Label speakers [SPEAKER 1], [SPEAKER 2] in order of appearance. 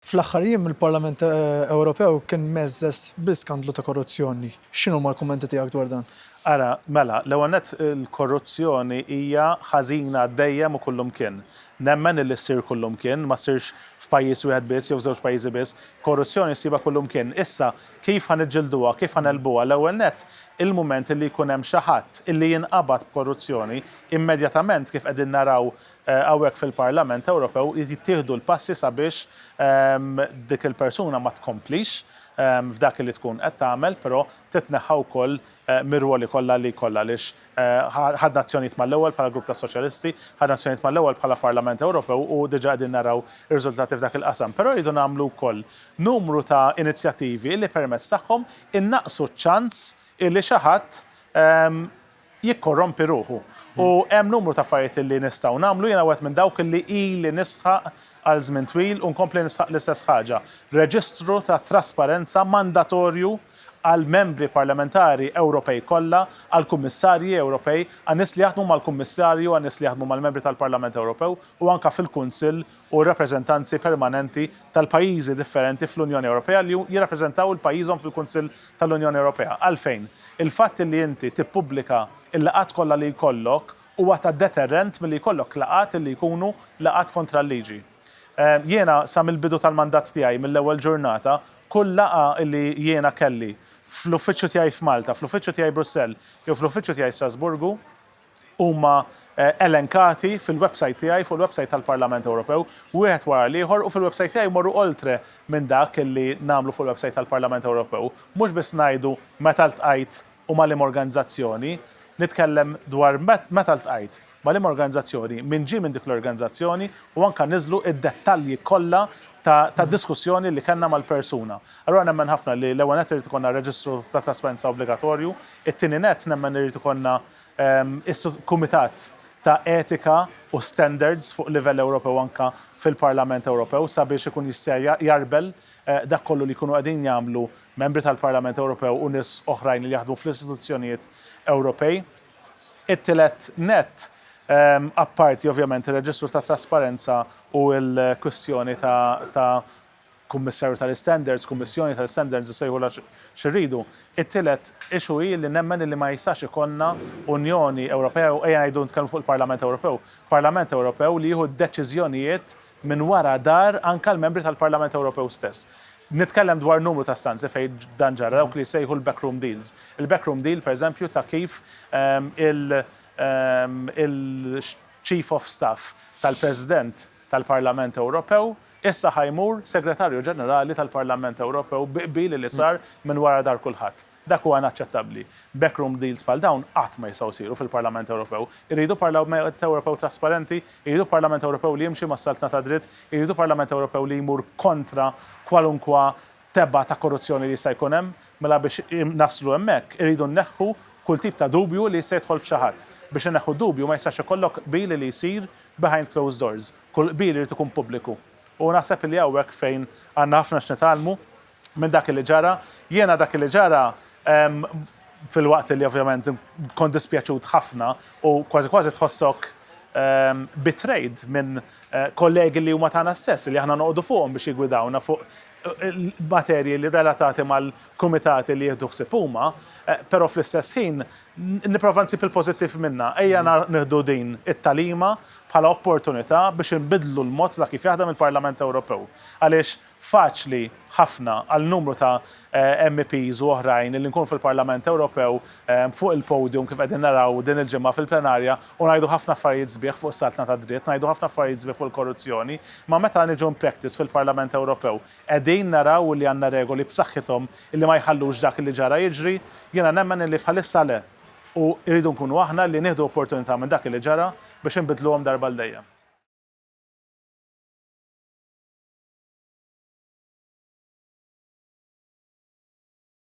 [SPEAKER 1] Fl-aħħar jiem il-Parlament Ewropew kien mgħeżżeż bi skandlu ta' korruzzjoni. X'inhuma l-kummenti tiegħek dwar dan? Ara, mela,
[SPEAKER 2] l-ewwel nett il-korruzzjoni hija ħażina dejjem u kullimkien. Nemmen illi ssir kullimkien, ma ssirx f'pajjiż wieħed biss jew f'żewġ pajjiżi biss. Korruzzjoni ssibha kullimkien. Issa, kif ħa niġġilduha, kif ħa negħlbuha? L-ewwel nett, il-mument illi jkun hemm xi ħadd illi jinqabad b'korruzzjoni, immedjatament kif qegħdin naraw hawnhekk fil-Parlament Ewropew jittieħdu l-passi sabiex dik il-persuna ma tkomplix f'dak li tkun qed tagħmel, però titneħħa wkoll mir-rwoli kollha li jkollha għaliex ħadna azzjonijiet mal-ewwel bħala Grupp tas-Soċjalisti, ħadna azzjonijiet mal-ewwel bħala Parlament Ewropew u diġà qegħdin naraw ir-riżultati f'dak il-qasam. Però rridu nagħmlu wkoll numru ta' inizjattivi li permezz tagħhom innaqqsu ċ-ċans li xi ħadd jikkorrompi ruħu. U hemm numru ta' affarijiet li nistgħu nagħmlu, jiena wieħed minn dawk li ili nisħaq għal żmien twil u nkompli nisħaq l-istess ħaġa, reġistru ta' trasparenza mandatorju għall-Membri Parlamentari Ewropej kollha, għall-Kummissarji Ewropej, għan-nies li jaħdmu mal-Kummissarju, għan-nies li jaħdmu mal-Membri tal-Parlament Ewropew u anke fil-Kunsill u r-rappreżentanzi permanenti tal-pajjiżi differenti fl-Unjoni Ewropea li jirrappreżentaw il-pajjiżhom fil-Kunsill tal-Unjoni Ewropea. Għalfejn? Il-fatt li inti tippubblika l-laqgħat kollha li jkollok huwa ta' deterrent milli jkollok laqgħat li jkunu laqgħat kontra l-liġi. Jiena sa mill-bidu tal-mandat tiegħi, mill-ewwel ġurnata, kull laqgħa li jiena kelli, fl-uffiċċju tiegħi f'Malta, fl-uffiċċju tiegħi Brussell jew fl-uffiċċju tiegħi Strasburgu, huma elenkati fil-websajt tiegħi, fuq il-websajt tal-Parlament Ewropew, wieħed wara l-ieħor u fil-websajt tiegħi jmorru oltre minn dak li nagħmlu fuq il-websajt tal-Parlament Ewropew. Mhux biss ngħidu meta ltqajt u ma' liema organizzazzjoni. Nitkellem dwar meta ltqajt, ma' liema organizzazzjoni, min ġie minn dik l-organizzazzjoni u anke niżlu d-dettalji kollha ta' diskussjoni li kellna mal-persuna. Allura nemmen ħafna li l-ewwel nett irid ikollna reġistru ta' trasparenza obbligatorju, it-tieni nett nemmen li jrid ikollna, is-Sottokumitat ta' Etika u Standards fuq livell Ewropew anke fil-Parlament Ewropew sabiex ikun jista' jgħarbel dak kollu li jkunu qegħdin jagħmlu Membri tal-Parlament Ewropew u nies oħrajn li jaħdmu fl-istituzzjonijiet Ewropej. It-tielet nett, apparti ovvjament ir-reġistru ta' trasparenza u l-kwistjoni ta' Kummissarju tal-Istandards, Kummissjoni tal-Istandards nsejħulha xi rridu. It-tielet issue hi li nemmen li ma jistax ikollna Unjoni Ewropea u ejja ngħidu nitkellmu fuq il-Parlament Ewropew, Parlament Ewropew li jieħu d-deċiżjonijiet minn wara dar anke l-membri tal-Parlament Ewropew stess. Nitkellem dwar numru ta' stanzi fejn dan ġara, dawk li jsejħu l-backroom deals. Il-backroom deal, pereżempju, ta' kif il-Chief of Staff tal-President tal-Parlament Ewropew Issa ħa jmur Segretarju Ġenerali tal-Parlament Ewropew bi qbil li sar minn wara dahar kulħadd. Dak huwa inaċċettabbli. Backroom deals bħal dawn qatt ma jistgħu jsiru fil-Parlament Ewropew. Irridu Parlament Ewropew trasparenti, irridu Parlament Ewropew li jimxi mas-saltna tad-dritt, irridu Parlament Ewropew li jmur kontra kwalunkwa tebgħa ta' korruzzjoni li jista' jkun hemm. Mela biex naslu hemmhekk, irridu nneħħu kull tip ta' dubju li jista' jidħol f'xi ħadd. Biex inneħħu d-dubju ma jistax ikollok qbil li jsir behind closed doors. Kull qbil irid ikun pubbliku. U naħseb li hawnhekk fejn għandna ħafna x'nitgħallmu minn dak li ġara. Jiena dak li ġara filwaqt li ovvjament kont dispjaċut ħafna u kważi kważi tħossok betrayed minn kollegi li huma tagħna stess, li aħna noqogħdu fuqhom biex jiggwidawna fuq materji li relatati mal-kumitati li jieħdu ħsieb huma, però fl-istess ħin nipprova nsib il-pożittiv minnha. Ejja nieħdu din it-tagħlima bħala opportunità biex inbiddlu l-mod ta' kif jaħdem il-Parlament Ewropew. Għaliex faċli ħafna għal numru ta' MEPs u oħrajn illi nkunu fil-Parlament Ewropew fuq il-podium kif qegħdin naraw din il-ġimgħa fil-plenarja u ngħidu ħafna affarijiet sbieħ fuq is-saltna tad-dritt, ngħidu ħafna affarijiet sbieħ fuq il-korruzzjoni, imma meta niġu in-practice fil-Parlament Ewropew qegħdin naraw illi għandna regoli b'saħħithom illi ma jħallux dak illi ġara jiġri? Jiena nemmen illi bħalissa le. u rridu nkunu aħna li nieħdu opportunità minn dak li ġara biex inbiddluhom darba għal dejjem.